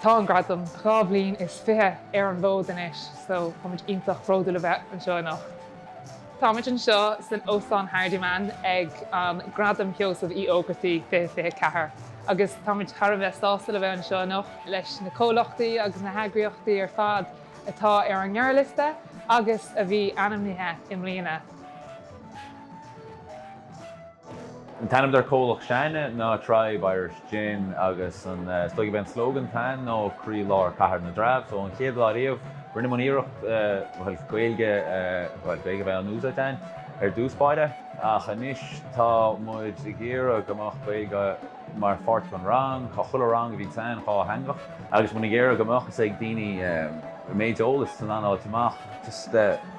Tá an Gradam dhá bhliain is fiche ar an bhfód anois so táimid iontach bródúil a bheith anseo anocht. Táimid anseo san Óstán Hardiman ag an Gradam Sheosaimh Uí Ógartaigh 2024 agus táimid thar a bheith sásta le bheith anseo anocht leis na comhlachtaí agus na heagraíochtaí ar fad atá ar an ngearrliosta agus a bhí ainmnithe i mbliana. An t-ainm dár gcomhlacht sinne ná Tribe Irish Gin agus an is dóigh gurb é an slogan atá ann ná Croí Lár Cathair na dTreabh so an chéad lá riamh rinne muid iarracht bhuel Gaeilge bhuel Gaeilge a bheith in úsáid againn ar dtús báire ach anois tá muid ag iarraidh go mbeadh Gaeilge mar pháirt den rang. Tá chuile rang a bhíonn againn dátheangach agus muid ag iarraidh go mbeadh a fhios ag daoine an méid eolas san anáil amach just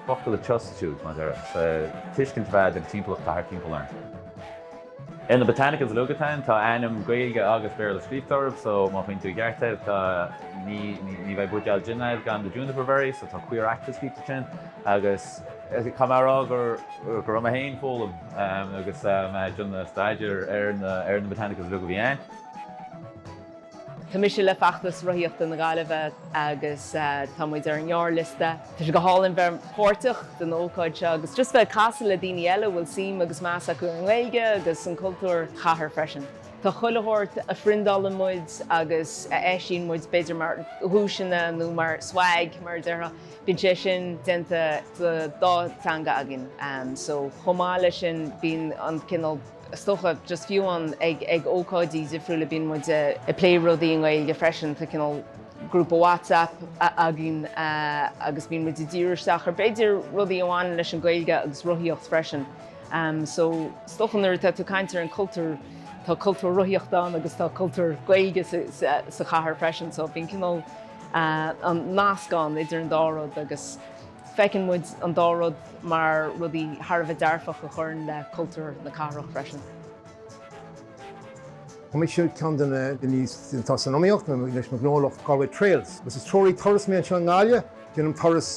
focail a substitute mar a déarfá so tuiscint a bheith ag an timpeallacht atá thart timpeall orainn. Ar na botanicals uilig atá ann tá ainm Gaeilge agus Béarla scríobhta orthu so má faigheann tú i gceart é tá ní ní bheidh buidéal jin agat gan do juniper berry so tá caor aitil scríofa ansin agus Caithfidh mé a rá go raibh mé féin ag foghlaim agus mé ag déanamh staidéir ar na botanicals beaga a bhí ann. Tá mise le Feachtas Rothaíochta na Gaillimhe agus tá muid ar an ngearrliosta. Tá sé go hálainn bheith páirteach den ócáid seo agus just bheith ag casadh le daoine eile a bhfuil suim agus meas acu ar an nGaeilge agus an cultúr sa chathair freisin. Tá chuile shórt a phriondálann muid agus a eisíonn muid b'fhéidir mar dhuaiseanna nó mar 'swag' mar a déarfá. Bíonn sé sin déanta sa dá teanga againn. So chomh maith leis sin bíonn an cineál, is dócha, just fiú ag ag ócáidí difriúla bíonn muid ag plé rudaí i nGaeilge freisin. Tá cineál grúpa WhatsApp againn agus bíonn muid ag díriú isteach ar b'fhéidir rudaí a bhaineann leis an Ghaeilge agus rothaíocht freisin. So is dócha nuair atá tú ag caint ar an cultúr, tá cultúr rothaíochta ann agus tá cultúr Gaeilge sa chathair freisin so bíonn cineál, an meascán idir an dá rud agus feiceann muid an dá rud mar rudaí thar a bheith dearfach a chuireann le cultúr na cathrach freisin. Tá mise ar cheann de na daoine atá san iomaíocht leis an ghnólacht Galway Trails agus is treoraí turais mé anseo i nGaillimh. Déanaim turais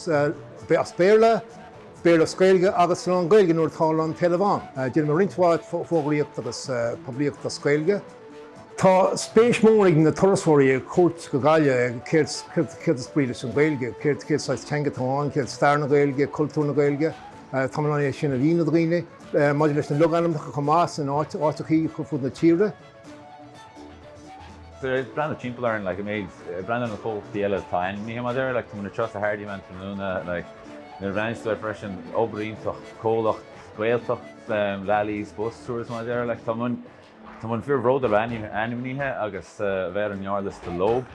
as Béarla, Béarla is Gaeilge agus lán-Ghaeilge nuair atá an t-éileamh ann. Déanaim roinnt mhaith fógraíocht agus poiblíocht as Gaeilge. Tá spéis mór ag na turasóirí ar cuairt go Gaillimh, céard céard is brí leis an Ghaeilge, céard céard saghas teanga atá ann, céard stair na Gaeilge, cultúr na Gaeilge. Táim in ann é sin a mhíniú do dhaoine. Maidir leis na logainmneacha chomh maith sna háiteachaí ar fud na tíre. Tá ag breathnú timpeall orainn like an méid ag breathnú ar na comhlachtaí eile atá ainmnithe mar a déarfá like tá muid istigh sa Hardiman an tráthnóna like nuair a bhreathnaíos soir freisin obair iontach comhlacht Gaeltacht Lally's bus tours mar a déarfá like tá muid Tá muid an-bhródúil a bheith ainmnithe agus a bheith ar an ngearrliosta leo.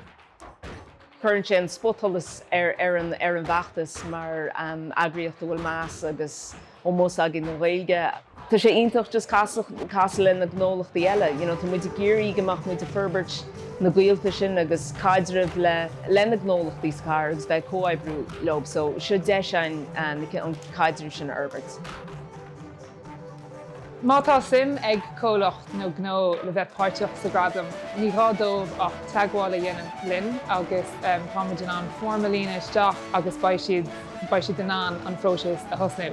Cuireann sé an spotsholas ar an ar an bhfeachtas mar eagraíocht a bhfuil meas agus ómós againn don Ghaeilge. Tá sé iontach just casadh casadh le na gnólachtaí eile you know tá muid ag iarraidh go mbeadh muid ag forbairt na gaolta sin agus caidreamh le le na gnólachtaí sa chathair agus bheith ag comhoibriú leo so seo deis againn an caidreamh sin a fhorbairt. Má tá suim ag comhlacht nó gnó le bheith páirteach sa Ghradam, ní gá dóibh ach teagmháil a dhéanamh linn agus táimid in ann foirm a líonadh isteach agus beidh siad beidh siad in ann an phróiseas a thosnú.